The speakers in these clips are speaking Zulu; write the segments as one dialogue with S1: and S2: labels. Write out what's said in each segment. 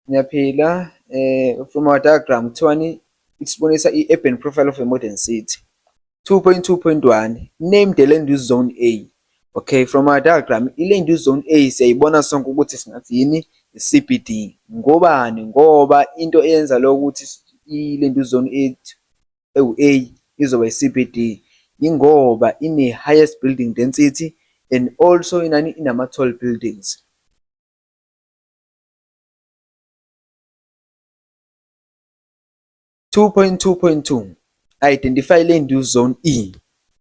S1: Ngiyaphila um from our diagram kuthiwani isibonisa i-urban profile of a modern city 2.2.1 name the land use zone a okay from our diagram i-land use zone a siyayibona sonke ukuthi singathi yini i-cbd ngobani ngoba into eyenza lo ukuthi i-land use zone a ewu-a izoba i-cbd ingoba ine-highest building density and also inani inama-tall buildings 2.2.2 Identify Land Use Zone E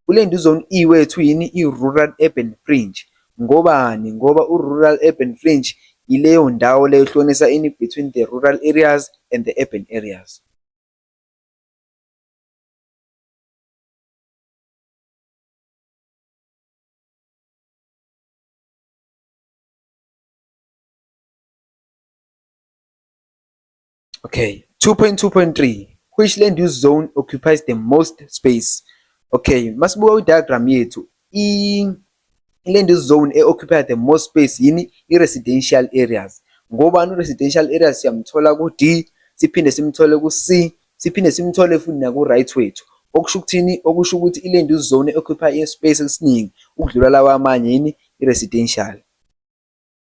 S1: Kuland Use Zone E wethu yini i-rural urban fringe ngobani ngoba u-rural urban fringe yileyo ndawo leyo ehlonisa ini between the rural areas and the urban areas. Okay, 2.2.3 which land use zone occupies the most space? Okay, masibuka kwi-diagram yethu i-land use zone e-occupy the most space yini i-residential areas ngobani u-residential areas siyamthola ku-D siphinde simthole ku-C siphinde simthole futhi naku-right wethu okusho ukuthini okusho ukuthi i-land use zone e-occupy i-space esiningi ukudlula lawa amanye yini i-residential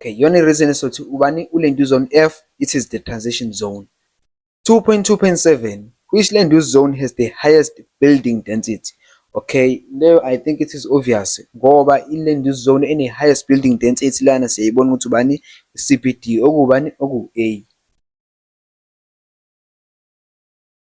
S1: Okay, yona i-reason esothi ubani ulendu zone F, it is the transition zone. 2.2.7 which land use zone has the highest building density okay leyo i think it is obvious ngoba i-land use zone ene-highest building density lana siyayibona ukuthi ubani i-cbd okubani oku-a